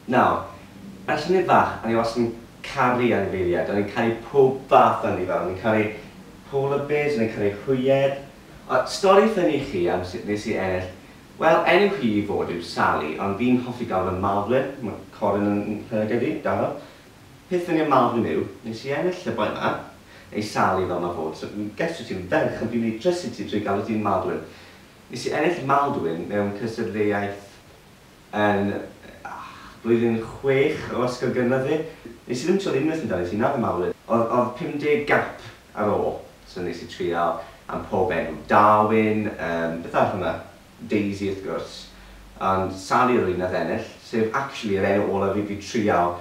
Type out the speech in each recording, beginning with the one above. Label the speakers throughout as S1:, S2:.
S1: Nawr, mae Llynedd Fach, o'n i wastad yn caru anifeiliaid, o'n i'n caru pob fath o anifail, o'n i'n caru polar bears, o'n i'n caru hwyed. Ond stori ffyni i chi am sut nes i ennill, wel, enw hi i fod yw Sali, ond fi'n hoffi galw fe'n Malflin, mae Colin yn nhegid fi, da iawn. Peth ffyni am Malflin yw, nes i ennill y boi 'ma, neu Sali fel mae'n fod, so fi'n gesto ti'n ferch ond fi'n mynd i drysu ti drwy galw ti'n Maldwyn. Nes i ennill Maldwyn mewn cystadleuaeth Yn blwyddyn chwech o ysgol gynradd fi, nes i ddim twli unwaith amdani ti, na fy mawlid. O'dd o'dd pum deg gap ar ôl, so nes i trial am pob enw, Darwin, yym beth arall o' 'na? Daisy wrth gwrs, ond Sali o'dd yr un nath ennill, sef actually yr enw olaf i fi trial,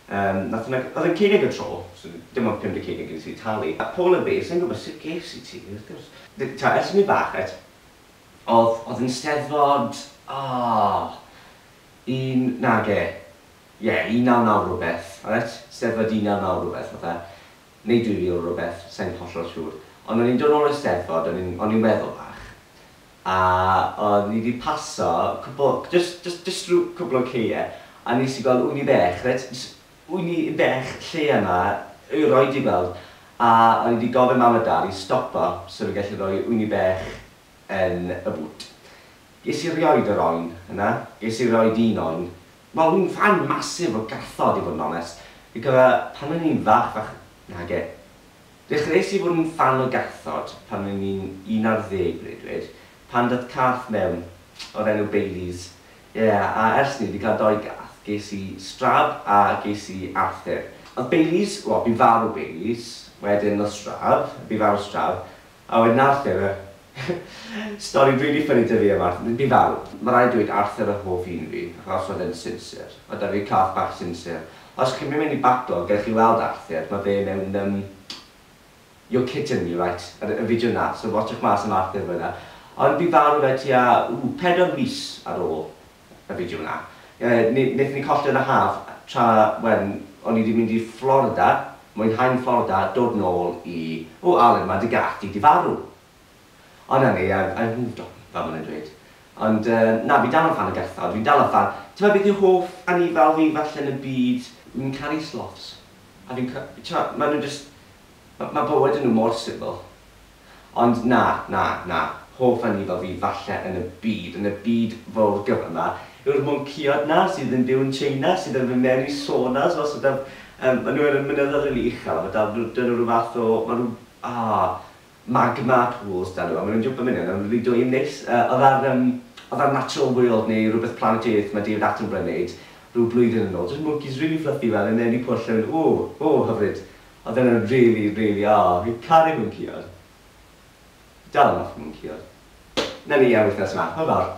S1: yym nath hwnna, o'dd e'n ceunig y tro, so dim ond pum deg ceunig nes i talu. A Paula Bay, sai'n gwbod sut ges i ti, wrth gwrs. T'od, ers i fi fach, reit, Odd, odd yn Steddfod, oh, un, nage, ie, un naw naw rwbeth, reit, Steddfod un naw naw rwbeth odd e, neu dwy fil rwbeth, sai'n hollol siŵr, ond o'n i'n dod nôl o'r Steddfod, o'n i'n, o'n i'n weddol fach, a o'n i 'di paso cwpwl, jyst, jyst, jyst rhyw cwpwl o ceie, a nes i gweld ŵyn i bech, reit, jyst Wy ni y bech lle yma y roed i weld a o'n i di gofyn mam a dad i stopo so ni gallu roi wy ni bech yn y bŵt. Ges i rioed yr oen yna, ges i rioed un oen. Wel wi'n ffan massive o gathod i fod yn onest. Fi'n cofio pan o'n i'n fach fach, nage. Dechreuais i fod yn ffan o gathod pan o'n i'n un ar ddeg breuddwyd pan dath cath mewn o'r enw Baileys. Ie, a ers ni 'di cael dou gath, ges i Strab a ges i Arthur. Oedd Baileys, wel, bu farw Baileys, wedyn oedd Strab, bu farw Strab, a wedyn Arthur, yr stori rili ffyni 'da fi am Arthur, bu farw. Mae rhaid dweud Arthur oedd hoff un fi, achos oedd e'n sinsir. Oedd 'da fi cath bach sinsir. Os chi'n mynd mewn i Backlog, gewch chi weld Arthur, mae fe mewn, yym, You're kidding me right ar y fideo 'na, so watsiwch mas am Arthur fan'na. Ond bu farw fe tua, ww, pedwar mis ar ôl y fideo 'na. Yy ne- nethon ni colli e yn y haf tra when o'n i 'di mynd i Florida, mwynhau'n Florida, dod nôl i, o Aled ma' dy gath di 'di farw! O na ni, I've I've moved on, fel ma' nhw'n dweud. Ond yy na, fi dal yn ffan o Gerthod, fi'n dal yn ffan. T'mod beth yw hoff anifail fi falle yn y byd? Fi'n caru sloths. A fi'n ca- t'mod, ma' nhw jyst... ma- ma' bywyd yn nhw mor sifil. Ond na, na, na, hoff anifail fi falle yn y byd, yn y byd fowr gyfa 'ma, yw'r mwnceod 'na sydd yn byw yn Tsieina, sydd yn mynd mewn i saunas fel sort of, yym, ma' nhw yn y mynyddoedd rili uchel a ma' 'da nhw, 'da nhw ryw fath o, ma' nhw, ah, Magma pools da nhw a ma' nhw'n jwmpo myn hyn a ma' rili dwy yn neis. Yy o'dd ar yym o'dd ar Natural World neu rwbeth Planet Earth ma' David Attenborough yn neud rhyw blwyddyn yn ôl jyst mwncis rili fluffy fel yn enwi pwll a mynd ww ww hyfryd. O'dd e'n yn rili rili o fi'n caru mwnci-od. Dal yn offi mwnci-od. Nawn ni am wythnos ma. Hwyl fawr.